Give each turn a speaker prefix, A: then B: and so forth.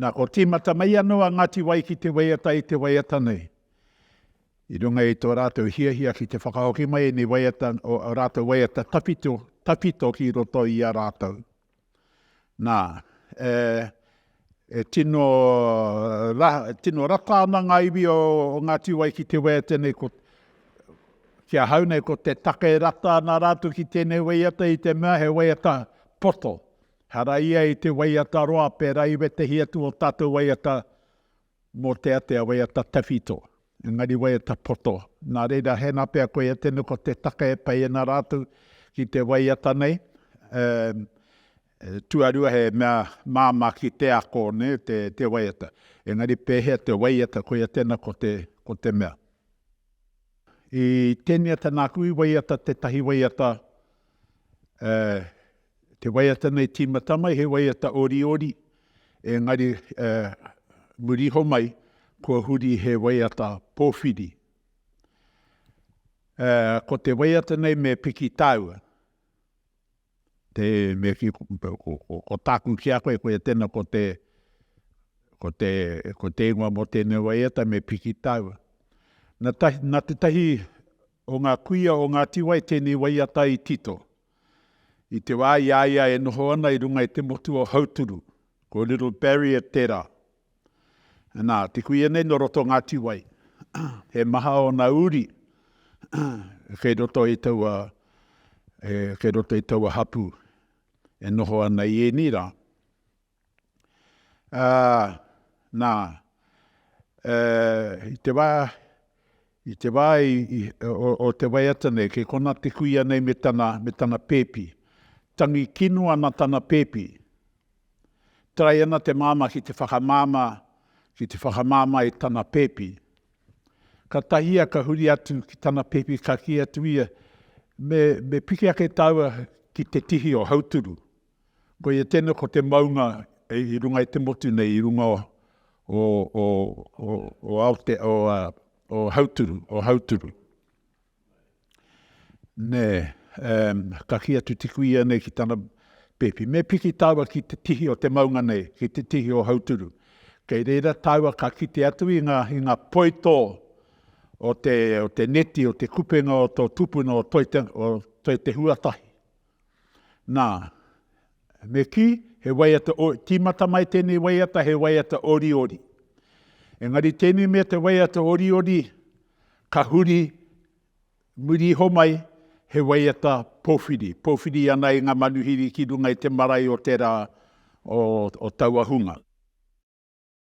A: Nā, ko tīmata mai anō a Ngāti Wai ki te waiata i te waiata nei. I runga i tō rātou hiahia ki te whakahoki mai ēnei waiata, o ō rātou waiata tawhito, tawhito ki roto i a rātou. Nā, e, e tino, ra, tino rata ana ngā iwi o, o Ngāti Wai ki te waiata nei, ko, ki a hau nei, ko te take rata ana rātou ki tēnei waiata i te mea he waiata poto. Hara ia i te waiata roa, pērā i wētehi atu o tātou waiata mō te atea waiata tawhito, engari waiata poto. Nā reira, hēnā pea koia tēnei ko te take e pai ana rātou ki te waiata nei, tuarua he mea māmā ki te ako te waiata. Engari pēhea te waiata, koia tēnā ko te mea. I tēnei ata nāku i waiata tētahi waiata Ā, te waiata nei tīmata mai he waiata oriori, engari, ā, muri iho mai, kua huri he waiata pōwhiri. Ā, ko te waiata nei me piki tāua. Te mea ki, ko tāku ki a koe, koia tēnā, ko te, ko te, ko te ingoa mō tēnei waiata, me piki tāua. Na tahi, na te tahi O ngā kuia o Ngāti Wai tēnei waiata i tito. I te wā i a ia e noho ana i runga i te motu o Hauturu, ko Little Barrier tērā. Nā, te kuia nei nō roto o Ngāti Wai. He maha ōna uri kei roto i taua, kei roto i taua hapū e noho ana i ēnei rā. Ā, nā, e, i te wā, i te wā i, i, o, o te waiata nei, kei konā te kuia nei me tana, me tana pēpi. Tangi kino ana tana pēpi. Tae ana te māmā ki te whakamāmā, ki te whakamāmā i tana pēpi. Ka tahia ka huri atu ki tana pēpi ka kī atu ia, Me, me piki ake tāua ki te tihi o Hauturu. Koia tēnei ko te maunga i runga i te motu nei, i runga o Hauturu. Nē, ka kī atu te kuia nei ki tana pēpi, me piki tāua ki te tihi o te maunga nei, ki te tihi o Hauturu. Kei reira tāua ka kite atu i ngā poitō o te neti, o te kupenga o tō tupuna o Toi Te Huatahi. Nā, me kī, he waiata o, tīmata mai tēnei waiata, he waiata oriori. Engari tēnei mea te waiata oriori, ka huri muri iho mai, he waiata powhiri, powhiri ana i ngā manuhiri ki runga i te marae o te rā o taua hunga.